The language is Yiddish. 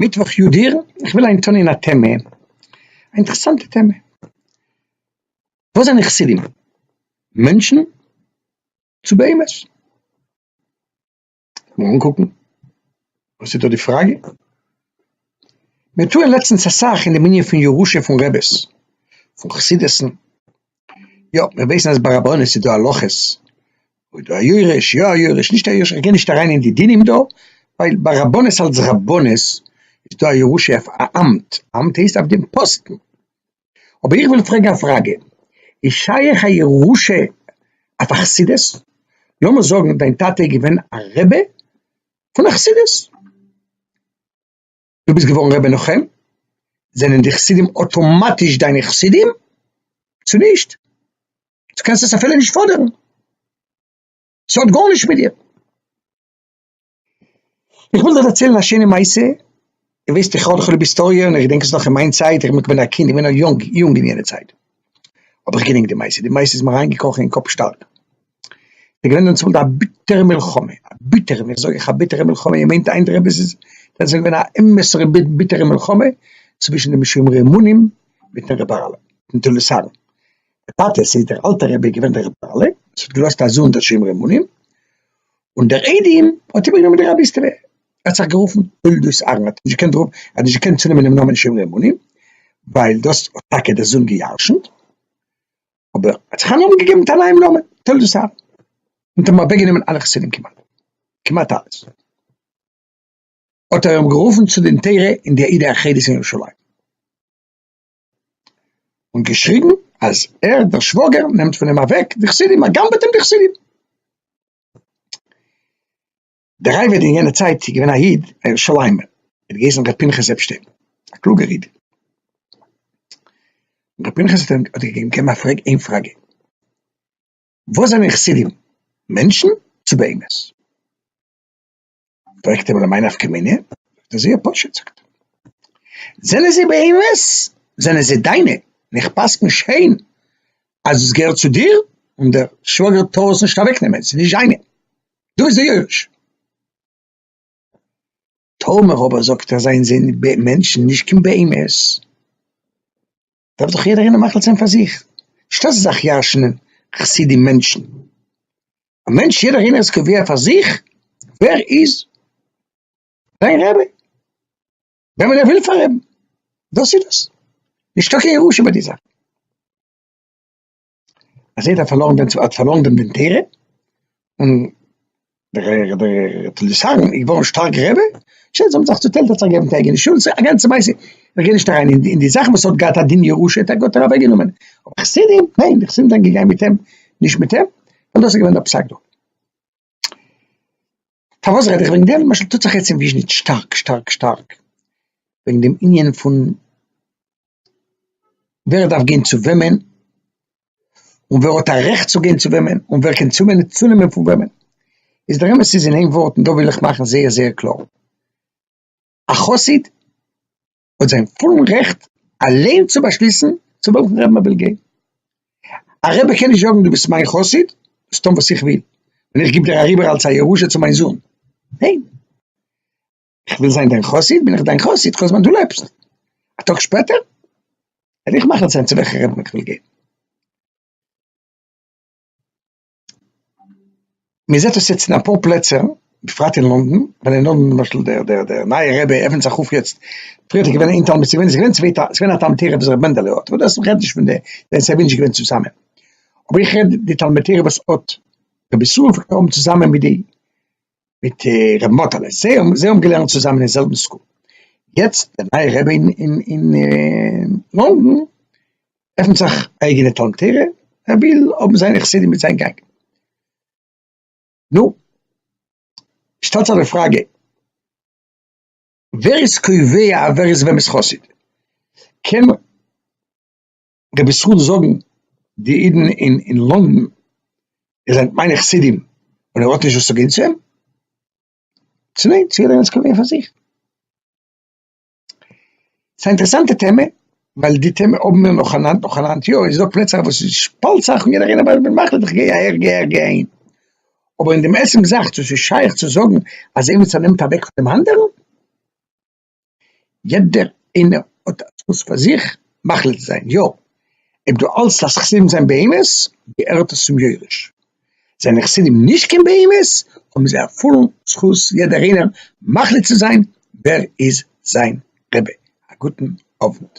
מיטוואך יו ט אייר, איך וויל היינט טאן א טעמע, א אינטערעסאנטע טעמע, וואס זענען חסידים? מענטשן? צו בהמות? לאמיר אנקוקן וואס איז דא די פראגע, מיר טוען לעצטנס אסאך אין די מנין פון ירושה פון רעבעס, פון חסידות'ן, יא, מיר ווייסן אז ביי רבנות איז דא הלכות, אויב דא א יורש, יא א יורש, נישט א יורש, איך גיי נישט אריין אין די דינים דא, ווייל ביי רבנות אלס רבנות איז דא א ירושה אויף א אמט, אמט הייסט אויף דעם פאסטן. אבער איך וויל פרעגן א פראגע, איז שייך א ירושה אויף א חסידות? לאמיר זאגן דיין טאטע איז געווען א רבי פון א חסידות. דו ביסט געווארן ר' מנחם? זענען די חסידים אטאמאטיש דיינע חסידים? צו נישט? דו קענסט עס אפילו נישט פאדערן. ס'האט גארנישט מיט דיר. איך וויל דיר דערציילן א שיינע מעשה, איר וויסט איך האב דאך ליב היסטאריע און איך געדענק עס נאך אין מיין צייט, איך בין א קינד, איך בין נאך יונג אין יענע צייט האב איך געדענקט די מעשה, די מעשה איז מיר אריינגעקראכן אין קאפ שטארק. ס'איז געווען דעמאלט א ביטערע מלחמה, א ביטערע, ווען איך זאג אייך א ביטערע מלחמה, איר מיינט איינער עפעס איז, דאן איז עס געווען א אמת'ער ביטערע מלחמה צווישן די משומרי אמונים מיטן רעבאלע, מיטן טוליסאנער. דער טאטע, ס'איז דער אלטער רבי געווען דער רעבאלע, וואס האט געלאזט א זוהן דער שומרי אמונים, און דער איידעם האט איבערגענומען די רבי'סטעווע, ער האט זיך גערופן תולדות אהרן, ער האט נישט געקענט רופן, ער האט נישט געקענט צונעמען דעם נאמען שומרי אמונים, ווייל דאס האט טאקע דער זוהן גע'ירש'נט. אבער ער האט זיך א נאמען געגעבן מיט א נייעם נאמען, תולדות אהרן, און האט אוועקגענומען אלע חסידים כמעט, כמעט אלעס, האט ער אים גערופן צו דין תורה אין די עדה החרדית אין ירושלים, און געשריגן אז ער דער שוואגער נעמט פון אים אוועק די חסידים, ער גנב'עט אים די חסידים. דער רבי איז אין יענע צייט געווען א איד, א ירושלימער, ער האט געהייסן ר' פנחס עפשטיין, א קלוגער איד. ר' פנחס האט אים געגעבן א פרעג איין פראגע, וואס זענען חסידים, מענטשן צו בהמות? פרעגט אים למאי נפקא מינה? זאגט ער זייער פשוט, זאגט ער, זענען זיי בהמות, זענען זיי דיינע, און איך פסק'ן שיין אז עס געהערט צו דיר, און דער שוואגער טאר עס נישט אוועקנעמען, עס איז נישט זיינע. דא איז דער יורש. טאמער אבער זאגט ער זיין זין מענטשן נישט קיין בהמות, דארף דאך יעדער איינער מחליט זיין פאר זיך, נישט אז ס'זאך ירש'נען חסידים מענטשן, א מענטש יעדער איינער איז קובע פאר זיך ווער איז זיין רבי, וועמען ער וויל פארעבן, דאס איז דאס, נישטא קיין ירושה ביי די זאך. אז ער האט פארלוירן דעם האט פארלוירן דעם דין תורה, און דער דער טליסארן איז געווארן שטארק גרעבער, שוין זיי האבן זיך צוטיילט ער האט זיך געגעבן טעג אין שול, ס'איז א גאנצע מעשה, איך גיי נישט אריין אין די זאכן וואס האט געהאט א דין ירושה האט ער גאט ער אוועק גענומען, אבער חסידים ניין די חסידים זענען געגאנגען מיט אים נישט מיט אים, און דאס איז געווען דער פסק דא. פארוואס רעד איך וועגן דעם? למשל טוט זיך יעצט אין וויזשניץ שטארק שטארק שטארק וועגן דעם ענין פון ווער דארף גיין צו וועמען, און ווער האט א רעכט צו גיין צו וועמען, און ווער קען צונעמען פון וועמען. איז דער אמת איז אין איין ווארט און דא וויל איך מאכן זייער זייער קלאר, א חסיד האט זיין פולן רעכט אליין צו באשליסן צו וועלכן רב מען וויל גיין. א רבי קען נישט זאגן דו ביסט מיין חסיד, זאלסט טון וואס איך וויל, און איך גיב דיר אריבער אלס א ירושה צו מיין זון. ניין. איך וויל זיין דיין חסיד, בין איך דיין חסיד כל זמן דו לעבסט. א טאג שפעטער וועל איך מחליט זיין צו וועלכן רב איך וויל גיין. מען זעט עס יעצט אין אפאר פלעצער, בפרט אין לונדון, ווען אין לונדון למשל דער דער דער נייער רבי עפענט זיך אויף יעצט, פריער האט ער געווען איין תלמיד, ס'איז געווען צוויי ת ת, ס'איז געווען א תלמוד תורה וואס ר' מענדעלע האט, אבער דאס רעדט נישט פון די, ווען ס'זענען נישט געווען צוזאמען, אבער איך רעד די תלמוד תורה וואס האט רבי ישראל פון קאפן צוזאמען מיט די. מיט רב מאטעלע, זיי האבן געלערנט צוזאמען אין זעלבן סקול, יעצט דער נייער רבי אין לאנדאן עפנט זיך א אייגענע תלמוד תורה, ער וויל האבן זיינע חסידים מיט זיין גענג, נו שטעלט זיך די פראגע ווער איז קובע ווער איז וועמענס חסיד? קען דער ביסוד זאגן די אידן אין אין לונדון איז זענט מיינע חסידים און ער האט נישט וואס צו גיין צו אים צו ניין צו ער איז געווען פאר זיך ס'איז א אינטערעסאנטע טעמע ווייל די טעמע האבן מיר נאך היינט נאך היינט יא איז דא פלעצער וואס איז שפאלט זיך און יעדער איינער ווייסט ווען מחליט איך גיי אהער גיי אהער גיי אהין אבער אין דעם עצם זאך צו ס'איז שייך צו זאגן אז עימיצער נעמט אוועק פון דעם אנדערן יעדער איינער האט א זכות פאר זיך מחליט צו זיין יא אויב דו האלטסט אז חסידים זענען בהמות געהערט עס צום יורש, זענען חסידים נישט קיין בהמות האבן זיי א פולן זכות יעדער איינער מחליט צו זיין ווער איז זיין רבי. א גוטן אוונט.